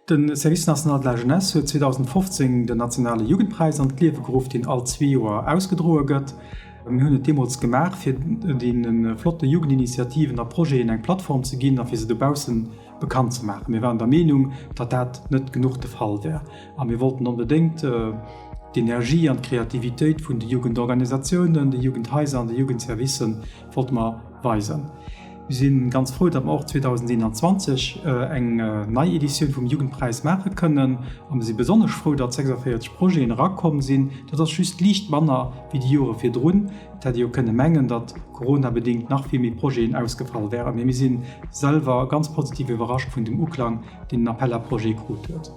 De Service national de la jeunesse huet 2015 den nationale Jugendpräis an d'Liewe geruff, deen all zwee Joer ausgedroe gëtt. Mir hunn et deemools gemaach, fir deene flotte Jugendinitiativen a Projeten eng Plattform ze ginn a fir se dobausse bekannt ze maachen. Mir waren der Meenung, datt dat net genuch de Fall wär a mir wollten onbedéngt d'Energie an d'Kreativitéit vun de Jugendorganisatiounen, de Jugendhaiser an de Jugendservicë wollte mer weisen. Mir si ganz frou, datt mer och 2021 eng nei Editioun vum Jugendpräis maache kënnen a mir si besonnesch frou, datt 46 Projeten erakomm sinn. Dat ass just liicht manner wéi déi Jore virdrun. Et hätt ee jo kënne mengen, datt coronabedéngt nach vill méi Projeten ausgefall wären, mee mir si selwer ganz positiv iwwerrascht vun dem Uklang, deen den Appel à projets krut huet.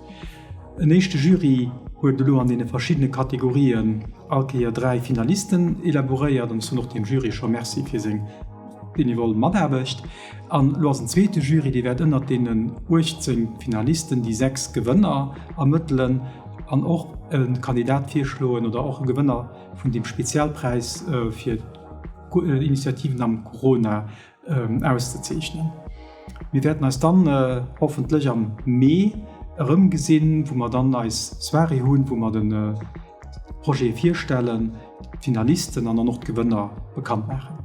En éischte Jury huet elo an deene verschiddene Kategorien all Kéier dräi Finalisten elaboréiert an ech soen och dem Jury scho Merci fir seng. benevol Mataarbecht an elo ass en zweete Jury, dee wäert ënnert deenen 18 Finalisten déi sechs Gewënner ermëttelen an och e Kandidat virschloen oder och e Gewënner vun deem Spezialpräis fir Initiativen am Corona auszezeechnen. Mir wäerten eis dann hoffentlech am Mee erëmgesinn, wou mer dann eis Soirée hunn, wou mer de. Projet virstellen, d'Finalisten an dann och d'Gewënner bekannt maachen.